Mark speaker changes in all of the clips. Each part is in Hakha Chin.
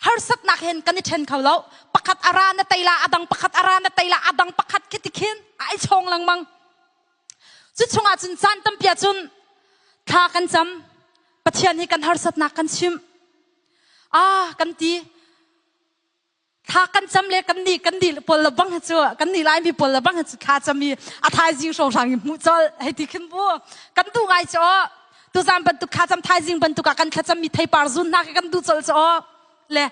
Speaker 1: harsatnak hen kan i ṭhen kho lo pakhat a ra na teila a dang pakhat a ra na teila a dang pakhat khi ti khin a ai chong lengmang cu chungah cun caan tampia cun thla kan cam pathian hi kan harsatnak kan chim ah kan ti thla kan cam le kan ni kan ni pol la bang chu kan ni lai mi pol la bang chu kha cham i a thai jing song sang i mu chol hei ti khin bu kan tu ngai cho tuzan bantuk khacam thaizing bantuk ah kan thlacam mi theipar zun hna ke kan du col cho le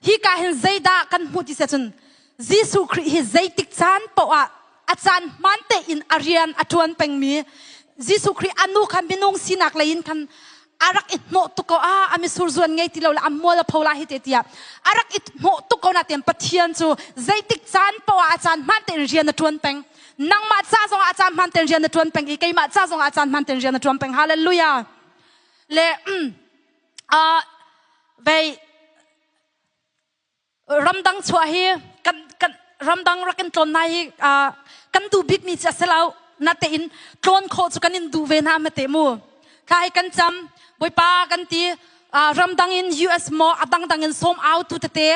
Speaker 1: hi ka hin zeidah kan hmu ti se cun Jesuh Christ hi zeitik caan poah a caan hman te in a rian a tuan pengmi Jesuh Christ anu khan minung sinak lei in khan arak i hnawh tu ko a ami sur zuan ngei ti lo la amol a phola hi te tia arak i hnawh tu ko na tem pathian chu zeitik caan poa a caan man te in rian a tuan peng nangmah ca zongah a caan hman ten rian na tuan peng i keimah ca zongah a caan hman ten rian na tuan peng hallelujah le uh, vei ramdang chuah hi kan kan ramdang rakin tlon nai hi uh, kan du bik mi ci se lo na te in tlon kho chu kan in du ve na ma te mu tha hi kan cham boipa kan ti ramdang in us mo adang dang in som out tu te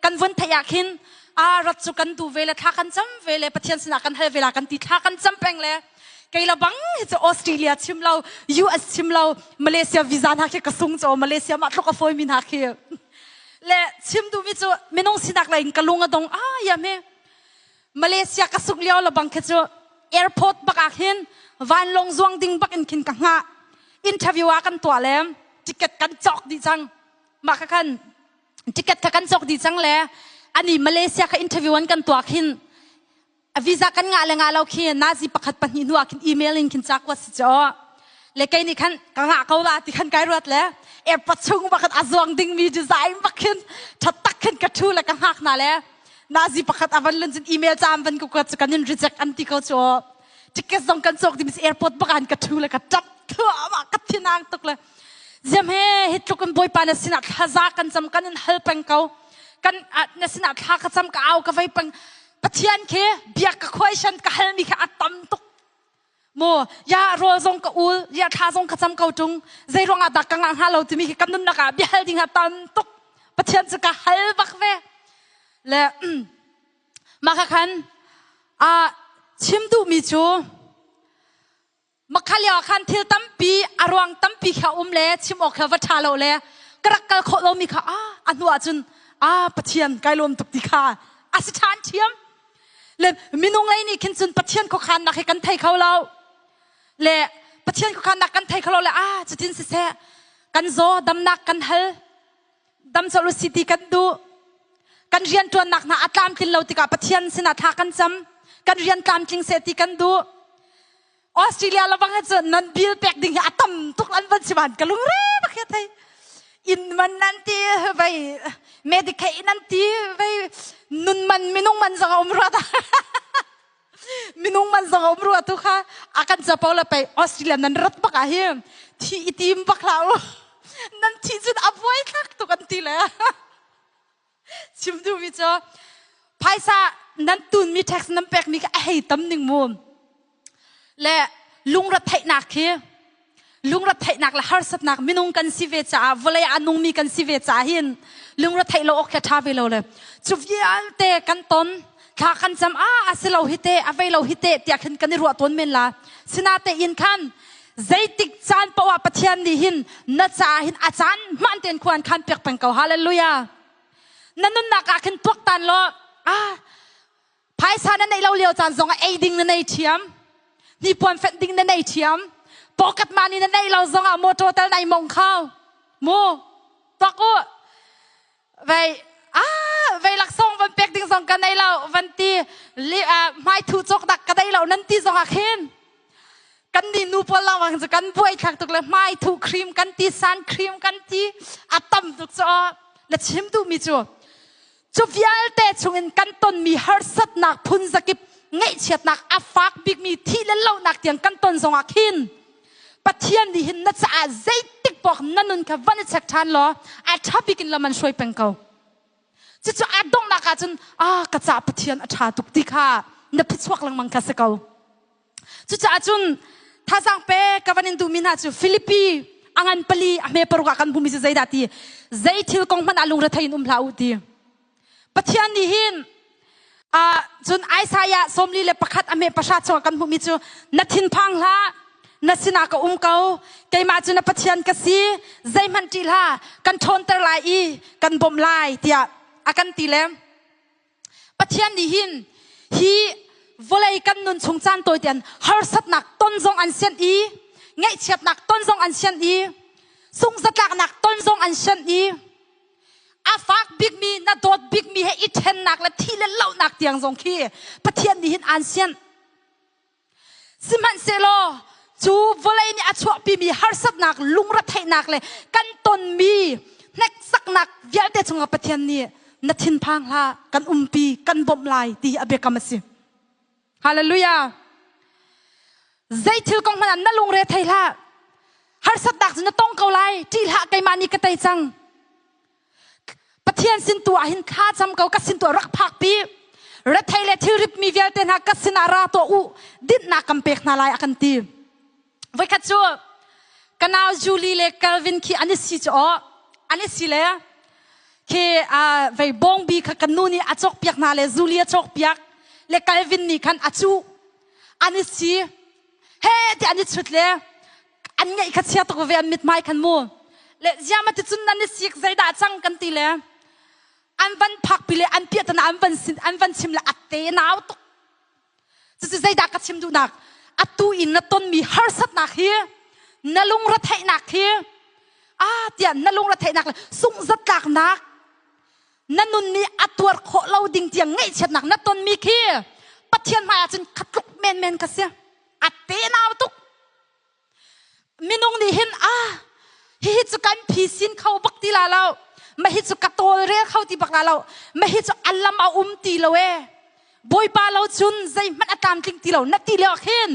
Speaker 1: kan vun theih ah khin a rat cu kan du ve le thla kan cam ve le pathian sinah kan hal ve la kan ti thla kan cam peng le kei la bang hi cu australia chim lo us chim lo malaysia visa hna khi ka sung cho malaysia ma tluk a foi mi hna khi le chim du mi cu minung sinak la in ka lung a dong a ya me malaysia ka sung liao la bang khi cu airport bak ah khin vanlong zuang ding bak in khin ka nga interview a kan tua le ticket kan cawk di chang ma ka kan ticket tha kan cawk di cang le ani Malaysia ka interview an kan tuak hin visa kan ngah le ngah lo khi nazi pakhat pahnih hnu ah khin email in khin chak wa si cho le kei ni khan ka nga ko la ti khan kai ruat le airport chung bakhat azuang ding mi design bakhin that tak khin ka thu le ka ngak na le nazi pakhat avan lun chin email cham van ku ka kan in reject an ti ko cho ticket zong kan cawk ti mis airport bakan ka thu le ka tap thua ka thinang tuk le ziam he hi tluk kan boipa na sinah thlaza kan cham kan in hal peng ko kan na sinah thla ka cham ka au ka vai peng pathian ke biak ka question ka hal mi kha atam tuk mo ya rol zong ka ul ya thla zong ka cham ko tung zai ruang da ka ngang ha lo ti mi ki kan nun naka bia hal ding ha tam tuk pathian chu ka hal bak ve le Mah ka khan ah chim duhmi cu mah kha lio ah khan thil tampi a ruang tampi kha um le chim awk kha va ṭha lo le ka rak kal khawh lomi kha a a hnu ahcun a Pathian kai lawm tuk ti kha a si ṭhan ṭhiam. Le minung lei nih khin cun Pathian khuakhannak hi kan thei kho lo. Le Pathian khuakhannak kan thei kho lo le a cutin siseh kan zaw damnak kan hal dam sawh lu siti kan duh kan rianṭuannak hna a tlamtlin lo tikah Pathian sinah thla kan cam kan rian tlamtling se ti kan duh Australia lawang cun nan bil pek ding hi a tam tuk an van si van ka lungre bakhe thei in man nan ti vai medicaid nan ti vai nun man minung man zong a um rata minung man zong a um rua tu kha a kan capo le pei Australia nan rat bak ah hi thi i tim bak la u nan thi cun a buai thlak tuk an ti le chim du mi cu phaisa nan tun mi tax nan pek mi ka a hei tam ning mu le lungre theihnak khi lungretheihnak le harsatnak minung kan si ve caah vawlei a nungmi kan si ve caah hin lungretheih lo awk khi tha ve lo le cu vialte kan ton thla kan cam a a si lo hi te a vei lo hi te tiah khin kan i ruah tawn men la sinate in khan zeitik caan poah pathian nih hin na caah hin a caan man ten khuan khan pek peng ko hallelujah na nunnak ah khin tuak tan law a phaisa na neih lo lio caan zongah ei ding na nei thiam hnipuan fenh ding na nei thiam pocket money na nei lo zongah motor tal nai mong khao mu tok u vei a vei lak song van pek ding zong ka nei lo van ti mai thu chok dak ka dei lo nan ti zongah khin kan ni nu pol la wang kan buai thak tuk le mai thu cream kan ti san cream kan ti atam tuk cho na chim tu mi chu cu vialte chungin kan tonmi harsatnak phunzakip ngeihchiatnak a fak bikmi thih le lonak tiang kan ton zongah khin Pathian nih hin na caah zeitik pawk na nun kha van i chek ṭhan law a ṭha bikin lam an hruai peng ko cucu a donghnak ahcun a ka ca Pathian a ṭha tuk ti kha na phichuak lengmang kha si ko Cucaah cun thazang pe ka van in duhmi hna cu Filipi a ngan pali a hme paruk ah kan bumi cu zeidah ti zei thil kong hmanh ah lungre thei in um hlah u ti Pathian nih hin uh, cun Isaiah sawmli le pakhat a hme pahra chung kan hmuhmi cu na thinphang hlah na sinah ka um ko keimah cu na pathian ka si zeihmanh ṭih hla kan ṭhawnter lai i kan bawmh lai tiah a kan ti le Pathian nih hin hi vawlei kan nun chung caan tawi ten harsatnak ton zong an sian i ngaihchiatnak ton zong an sian i sungzatlaknak ton zong an sian i a fak bikmi na dawt bikmi he i ṭhennak le thi le lohnak tiang zong khi Pathian nih hin aan sian. Sihmanhsehlaw cu vawlei nih a chuahpimi harsatnak, lungretheihnak le kan tonmi hneksaknak vialte cungah Pathian nih na thinphang hlah, kan umpi, kan bawmh lai ti a biakam a si. Hallelujah! Zeithil kong hmanh ah na lungre thei hlah. Harsatnak cu na tong ko lai, ṭih hlah, keimah nih ka tei cang. Pathian sin tu ah hin thlacam ko ka sin tu ah rak phak pi rethei le thil rip mi vialte hna ka sin ah ra tuah u dinhnak kan pek hna lai a kan ti voikhat cu ka nau Julie le Calvin khi an i si cu aw an i si le khi vei bongbi kha ka nu nih a cawk piak hna le Julie a cawk piak le Calvin nih khan a cu an i si he ti an i chut le an ngaih kha chia tuk ve an mithmai khan mu le ziama ti cun nan i sik zeidah cang kan ti le an van phak pi le an piah tana an van an van chim le atte nau tuk cucu zeidah ka chim duhnak atu in na tonmi harsatnak hi na lungre theihnak hi a tiah na lungre theihnak le sungzatlaknak na nun nih a tuar khawh lo ding tiang ngaihchiatnak na tonmi khi pathian hmaiah cun khatluk menmen ka si a tenau tuk minung nih hin a hihi cu kan phisin kho bak ti la lo mahi cu ka tawlrel kho ti bak la lo mahi cu alam a um ti lo e bawipa lo cun zeihmanh a tlamtling ti lo na ti leo khin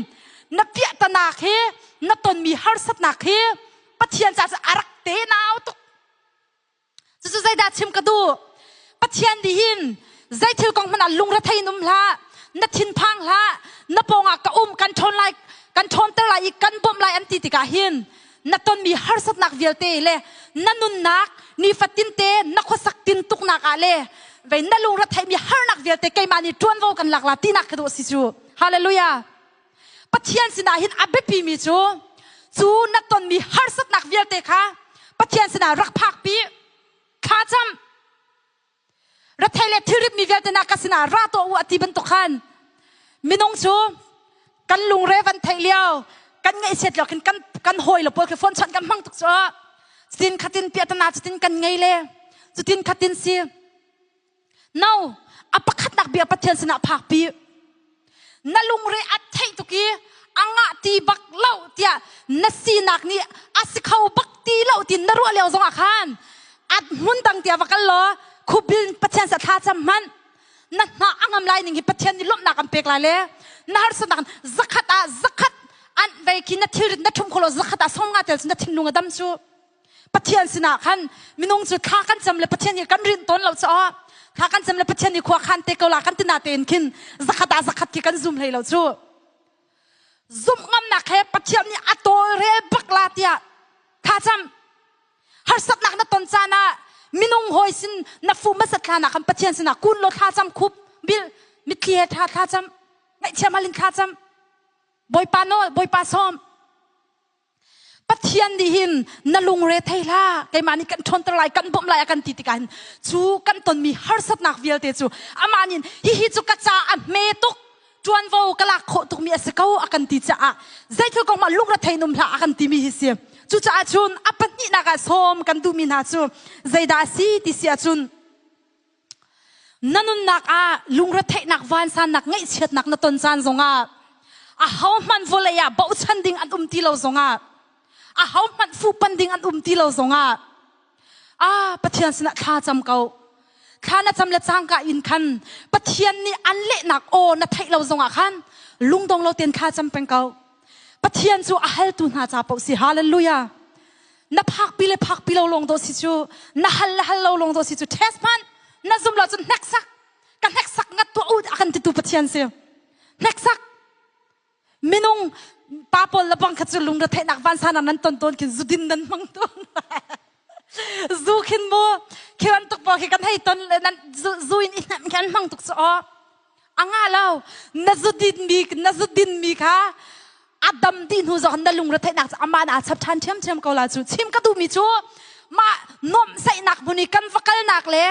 Speaker 1: na piahtana khi na tonmi harsatnak khi pathian ca cu a rak tenau tuk cucu zeidah chim ka duh pathian dihin zei thil kong hmanh ah lungrethei in um hlah na thinphang hlah na pawngah ka um kan ṭhawn lai kan ṭhawnter lai i kan bawmh lai an ti tikah hin na tonmi harsatnak vialte le na nunnak nifatinte na khuasak tin tuknak ah le vei na lungretheimi harnak vialte keimah nih ṭuanvo kan lak la tinak ka duh si cu hallelujah Pathian sinah hin a biapimi cu cu na tonmi harsatnak vialte kha Pathian sinah rak phakpi thlacam rathei le thilritmi vialte na ka sinah ra tuah u a ti bantuk khan minung cu kan lungre van theih lio kan ngaihsiat lo kan kan hawi le pawl khi phone chon kan hmang tuk cu cutin khatin piatana cutin kan ngei le cutin khatin si No, a pakhatnak bia Pathian sinah phakpi. Na lungre a theih tuk i a ngah ti bak lo tiah na sinak nih a si kho bak ti lo ti na ruah lio zongah khan at hmun dang tia va kal law khubil Pathian sa thla cham hman na hna a ngam lai ning hi Pathian nih lawmhnak an pek lai le na harsanak zakhat ah zakhat an vei khi na thil na thum kholo zakhat ah som nga tel na thinlung a dam cu Pathian sinah khan minung cu thla kan cam le Pathian hi kan rin tawn lo caah thla kan cam le Pathian hi khua khan te ko la kan tina tein khin zakhat ah zakhat ki kan zum hlei lo cu zumh ngamnak he Pathian nih a tawlrel bak la tiah thacam harsatnak na ton caan ah minung hoi sin na fu masat thlana kan Pathian sinah kun lo thla cam khup bil mitthli he tha tha cam ngaih thiam halin tha cam bawipa no bawipa som Pathian nih hin na lungre thei hlah keimah nih kan ṭhawnter lai kan bawmh lai a kan ti tikah hin cu kan tonmi harsatnak vialte cu amah nih hihi cu ka caah a hme tuk ṭuanvo ka lak khawh tukmi a si ko a kan ti caah zeithil kong mah lungrethei num hlah a kan timi hi si cucaah cun a pahnihnak ah sawm kan duhmi hna cu zeidah a si ti si ahcun Na nunnak ah lungretheihnak vansannak ngaihchiatnak na ton caan zongah ahohmanh vawlei ah bochan ding an um ti lo zongah ahohmanh fuhpan ding an um ti lo zongah ah Pathian sinah thla cam ko thla na cam le cangka in khan Pathian nih an lehnak aw na theih lo zongah khan lungdong lo ten kha cam peng ko Pathian cu a haltu hna ca paoh si hallelujah na phakpi le phakpi lo lawng dawh si cu na hal le hal lo lawng dawh si cu test hman na zum lo cun hneksak ka hneksak ngat tuah u a kan titu pathian si hneksak minung pa pawl le bang kha cu lungre theihnak vansanar nan ton ton kin zudin nan hmang tung zu khin mu khi ran tuk bo khi kan hei ton le nan zu in i hnem kan hmang tuk su o a nga lo na zudinmi na zudinmi kha a dam dih hnu zong na lungre theihnak cu amah na chap ṭhan ṭhiamṭhiam ko la cu chim ka duhmi cu mah nuamhsaihnak hmun i kan va kalnak le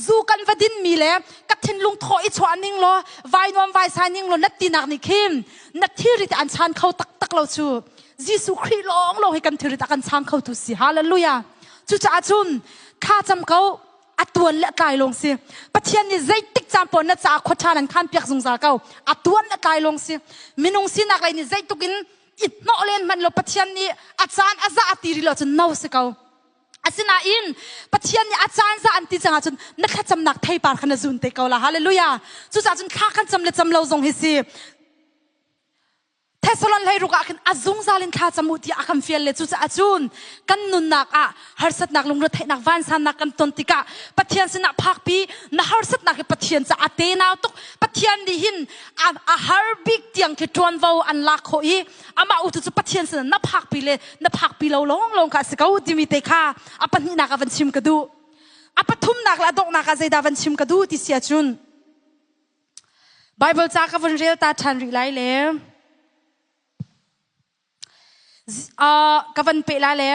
Speaker 1: zu kan va dinmi le ka thinlung thaw i chuah ning law vai nuam vai sai ning law na tinak nih khin na thilri te an chan kho taktak lo cu Jesuh Khrih lawng lo hi kan thilri te kan chang kho tu si hallelujah cucaah cun kha cam ko a tuan le tlai lawng si pathian nih zeitik caan pawl na ca khua ṭha nan khan piak zungzal ko a tuan le tlai lawng si minung sinak lei nih zeituk in it hnawh len hmanh lo pathian nih a caan a za a ti rih lo cun no si ko asinain pathian nih a caan za an ti cangah cun na thlacamnak theipar kha na zun te ko la haleluya cucaah cun thla kan cam le cam lo zong hi si Thessalon hleiruk ah khin a zungzal in thla camu ti a kan fial le cucaah cun kan nunnak ah harsatnak lungretheihnak vansannak kan ton tikah Pathian sinah phakpi na harsatnak hi Pathian caah tenau tuk Pathian nih hin a, a har bik tiang khi ṭuanvo an lak khawh i amah utu cu Pathian sinah na phakpi le na phakpi lo lawng lawng kha a si ko timi te kha a pahnihnak ah van chim ka duh a pathumnak le a donghnak ah zeidah van chim ka duh ti sia cun Bible ca ka vun rel ta ṭhan rih lai le uh, ka van pe la le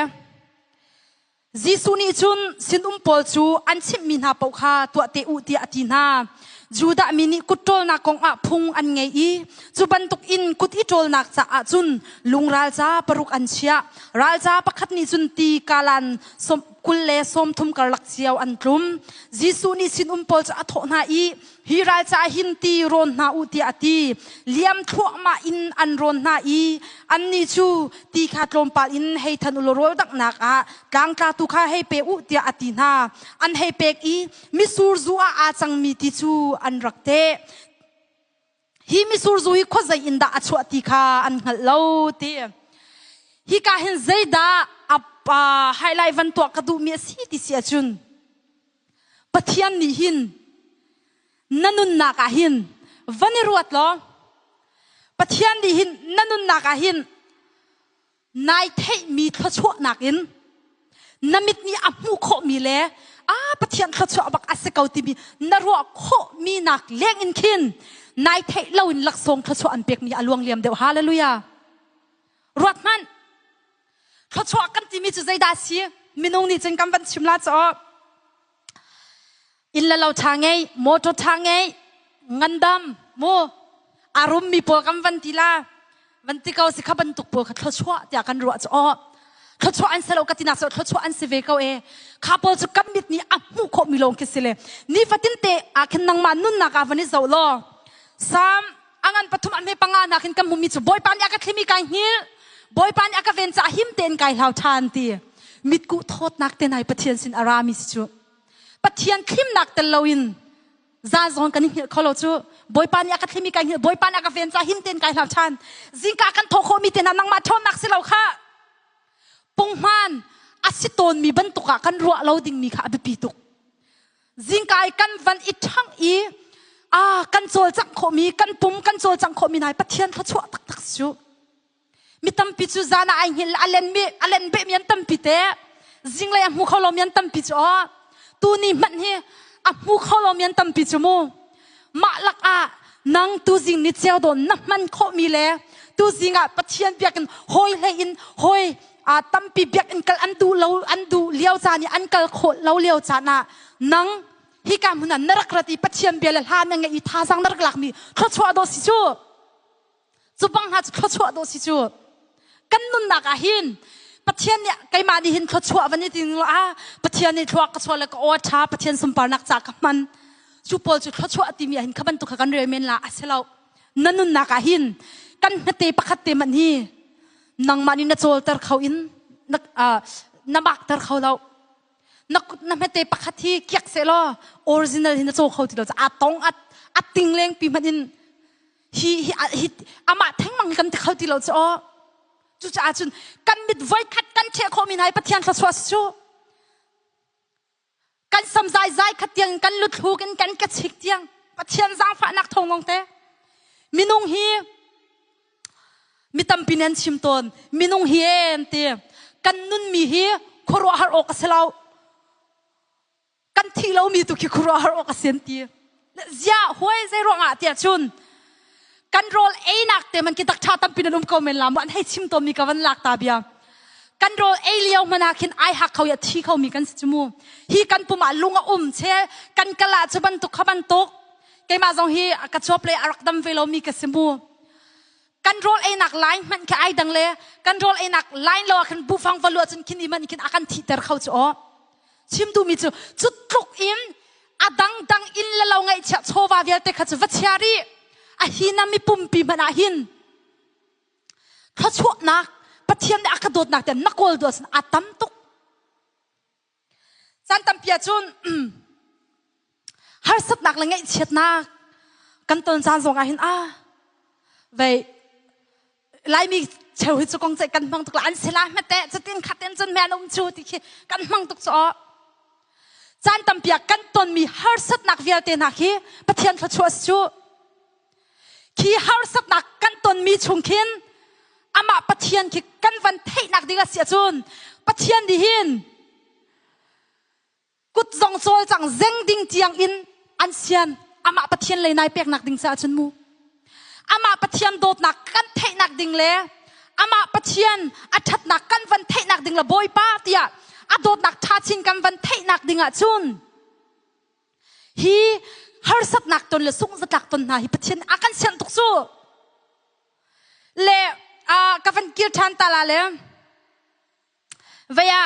Speaker 1: Jesuh nih cun sinum pawl cu an chimhmi hna paoh kha tuah te u tiah a ti hna. Judah mi nih kut ṭolnak kong ah phung an ngei i cu bantuk in kut i ṭolnak caah cun lungral ca paruk an chiah. Ral ca pakhat nih cun ti kalan kul le sawm thum karlak cio an tlum. Jesuh nih sinum pawl cu a thawh hna i hi ral ca hin ti rawn hna u tiah a ti liam thluahmah in an rawn hna i annih cu ti kha tlawmpal in hei than u law rawl daknak ah tlangtla tu kha hei pe u tiah a ti hna an hei pek i misur zu ah aa cangmi ti cu an rak teh hi misurzu hi khuazei in dah a chuah ti kha an hngalh lo ti hi ka hin zeidah a highlight van tuah ka duhmi a si ti si ahcun pathian nih hin na nunnak ah hin van i ruat law pathian nih hin na nunnak ah hin nai theihmi thluachuahnak in na mit nih a hmuh khawhmi le a pathian thluachuah bak a si ko timi na ruah khawhmi nak leng in khin nai theih loin laksawng thluachuah an pekmi a luang liam deuh hallelujah ruat hmanh thluachuah kan timi cu zeidah si minung nih cun kan van chim la caah inn le lo ṭha ngei motor ṭha ngei ngandam mu arum mi pawl kan van ti la van ti ko si kha bantuk pawl kha thluachuah tiah kan ruah cu aw thluachuah an si lo ka tinak so thluachuah an si ve ko e kha pawl cu kan mit nih a hmuh khawh mi lawng khi si le ni fatin te a khin nangma nunnak a van i zo law sam angan pathum an me panga nak in kan mumi cu boipa nih a ka thlimi kai hngil boipa nih a ka venca him tein kai hlau ṭhan ti mitku thawtnak te nai pathian sin ara mi si cu Pathian thlimnak tel loin za zawn kan i hngilh kho lo cu bawipa nih a ka thlimi kai hngilh bawipa nih a ka ven ca him tein kai hlau ṭhan zingka kan thawh khawhmi te hna nangmah ṭhawnnak si lo kha punghman a si tawnmi bantuk ah kan ruah lo dingmi kha a biapi tuk zingka i kan van i ṭhang i a kan cawlcangh khawhmi kan pum kan cawlcangh khawhmi nai Pathian thluachuah taktak si u mi tampi cu zan ah ai ngil a len mi a len beh mi an tampi te zinglei a hmu kho lo mi an tampi cu aw tu ni hmanh hi a hmu kho lo mi an tampi cu mu mah lak ah nang tu zing ni ceu don na hman kho mi le tu zing ah pathian biak in hoi hlei in hoi a tampi biak in kal an du lo an du liao ca ni an kal kho lo liao ca na nang hi ka hmun na rak rat i pathian bia le hla na ngei i thazang na rak lak mi thlo chuah do si chu cu bang hna cu thluachuah dawh si cu kan nunnak ah hin Pathian nih keimah nih hin thluachuah van i tin ah Pathian nih thluak ka sual le ka aw tha Pathian sunparnak ca ka hman cu pawl cu thluachuah timi ah hin kha bantuk kha kan rel men la a si lo na nunnak ah hin kan hnate pakhat te man hi nangmah nih na cawlter kho in na na makter kho lo na na hmete pakhat hi kiak se law original hi na caw kho ti lo a tong at at ting leng pi hman in hi hi hi amah thengmang hi kan ti kho ti lo cu cucaah cun kan mit voi khat kan ṭheh khawhmi nai pathian thluachuah cu kan sam zai zai khat tiang kan lutluk in kan ke chik tiang pathian zaangfahnak thongong te minung hi mi tampi nen chim tawn minung hi en ti kan nunmi hi khuaruahhar awk a si lo kan thi lomi tu khi khuaruahhar awk a sian ti zia hoi zei ruangah tia chun kan rol einak te man ki tak tha tampi nan um ko men lam an hei chim to mi ka van lak ta bia kan rol ei lio mana khin ai hak kho ya thi kho mi kan simu hi kan puma lung a um che kan kala chu ban tuk kha ban tuk keima zong hi ka chop le arak dam ve lo mi ka simu kan rawl einak line hmanh khi ai dang le kan rawl einak line lo ah khan bufang va luah cun khin iman khin a kan thihter kho cu aw chim duhmi cu cu tluk in a dangdang in le lo ngaihchia chawva vialte kha cu va chia ri a hi na mi pumpi hmanh ah hin thluachuahnak pathian nih a ka dawtnak te na kawl duah sin a tam tuk Caan tampi ahcun harsatnak le ngaihchiatnak kan ton caan zong ah hin a vei laimi cheu hi cu kong ceih kan hmang tuk la an si la hmete cutin khaten cun men um chu ti khi kan hmang tuk cu o caan tampi ah kan tonmi harsatnak vialte hna khi Pathian thluachuah cu khi harsatnak kan tonmi chung khin amah pathian khi kan van theihnak ding a si ahcun pathian nih hin kut zong cawl cang zeng ding tiang in an sian amah pathian lei nai peknak ding caah cun mu amah pathian dawtnak kan theihnak ding le amah pathian a ṭhatnak kan van theihnak ding la bawipa tiah a dawtnak ṭha chin kan van theihnak ding ah cun Hi harsatnak ton le sungzatlak ton hna hi Pathian a kan sianh tuk cu le ka van kir ṭhan ta la le vaya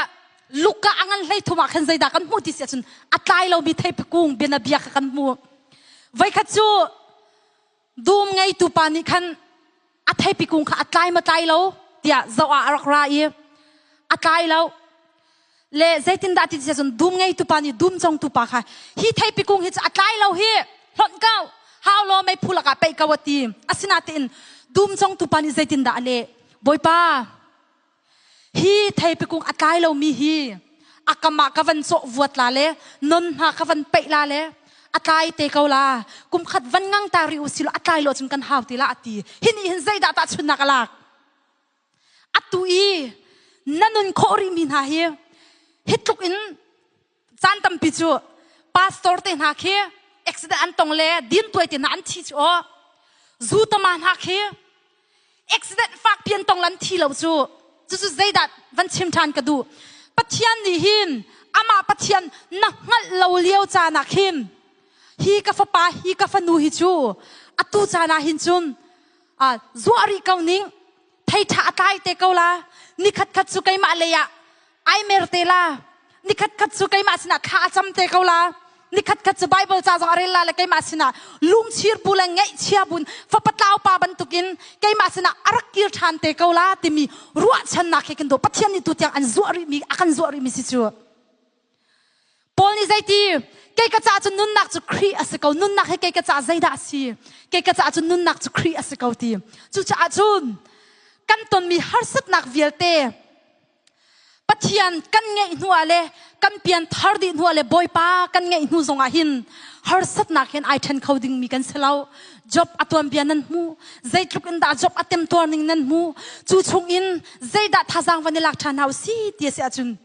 Speaker 1: luka a ngan hlei thum ah khan zeidah kan hmuh ti si ahcun a tlai lomi thei kung bianabia kha kan hmu voikhat cu dum ngeitu pa nih khan a theipi kung kha a tlai ma tlai lo tiah zoh ah a rak ra i a tlai lo le zeitindah ti cun dum ngeitu pa nih dum congtu pa kha hi theipi kung hi cu a tlai lo hi hlonh kau hau lo mei phu lakah pei ka wa ti asinatein dum congtu pa nih zeitindah a leh bawipa Hi theipikung a tlai lomi hi a kam ah ka van cawh vuat la le non hna ka van peih la le a tlai te ko la kum khat van ngang ta ri u silo a tlai lo cun kan hau ti la ati hin i hin zeidah tah chunnak a lak atu i na nun khawh rih mi hna hi hi tluk in caan tampi cu pastor te hna khi accident an tong le din tuai te hna an thi cu o zu tama hna khi accident fak pian tong lan thi lo cu cucu zeidat van chim than ka du pathian nih hin ama pathian na hngalh lo lio ca na khin hi ka fapa hi ka fanu hi cu atu ca na hin cun a zuah ri ko ning thei tha atlai te ko la ni khat khat cu keimah lei ah ai mer te la nikhat khat cu keimah sinah thla a cam te ko la nikhat khat cu bible ca zong a rel la le keimah sinah lungchir bu le ngeihchia bun fapatlau pa bantukin keimah sinah a rak kir ṭhan te ko la timi ruahchannak he kan do pathian nih tu tiang an zuah rihmi a kan zuah rihmi si cu Paul nih zeiti kei ka ca cu nunnak cu Khrih a si ko nunnak he kei ka ca zeidah a si kei ka ca cu nunnak cu Khrih a si ko ti cucaah cun kan tonmi harsatnak vialte Pathian kan ngeih hnuah le kan pianthar dih hnuah le bawipa kan ngeih hnu zongah hin harsatnak hin ai ṭhen kho dingmi kan si lo. Job a tuanbia nan hmu. Zeitluk in dah Job a temtuar ning nan hmu. Cu chung in zeidah thazaang van i lak ṭhan hna u si ti a si ahcun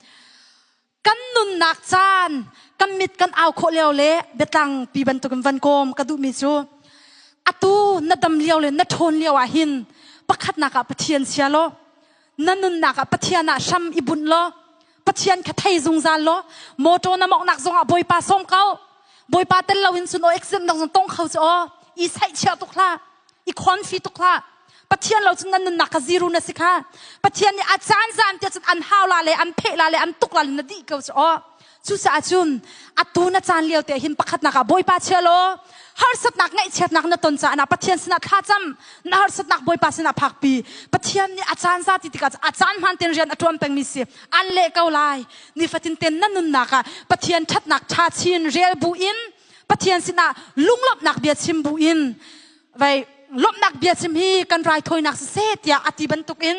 Speaker 1: kan nunnak caan kan mit kan au khawh lio le biatlang pi bantukin van kawm ka duhmi cu atu na dam lio le na ṭhawn lio ah hin pakhatnak ah Pathian sia law na nunnak ah Pathian ah hram i bunh law Pathian kha thei zungzal law motor na moknak zongah bawipa sawm ko bawipa tel loin sun o accident nak zong tong kho ci o i saih chia tuk hla i khon fi tuk hla Pathian lo cun nan nunnak kha ziru na si kha Pathian nih a caan zaan tiah cun an haula le an phehla le an tukla le na dih ko cu aw cucaah cun atu na caan lio te hin pakhatnak ah bawipa chia law harsatnak ngaihchiatnak na ton caah na Pathian sinah thlacam na harsatnak bawipa sinah phakpi Pathian nih a caan za ti tikah a caan hman ten rian a tuan pengmi si an leh ko lai nifatin ten na nunnak ah Pathian thatnak tha chin rial bu in Pathian sinah lunglawmhnak bia chim bu in vai lomnak bia sim hi kan rai thoinak si se tiah ati bantuk in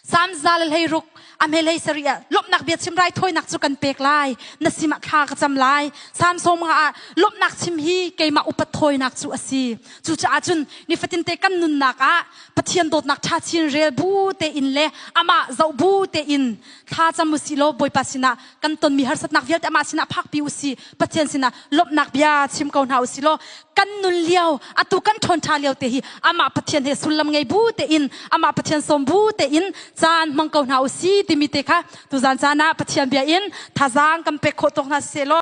Speaker 1: sam za le hlei ruk ame lei sari ah lomnak bia chim rai thoinak cu kan pek lai na sim ah thla ka cam lai samsom nga ah lomnak chim hi keimah upat thoinak cu asi cu caah cun nifatin te kan nunnak ah pathian dawtnak tha chin rel bu te in le ama zau bu te in tha camu si lo boipa sina kan tonmi harsatnak vialte amah sinah phakpi u si pathian sinah lawmhnak bia chim ko hna u si law kan nun lio atu kan ṭhawn ṭha lio te hi amah pathian he sullam ngei bu tein amah pathian sawm bu tein caan hmang ko hna u si timi te kha tuzan caan ah pathian bia in thazaang kan pek khawh tawk hna si law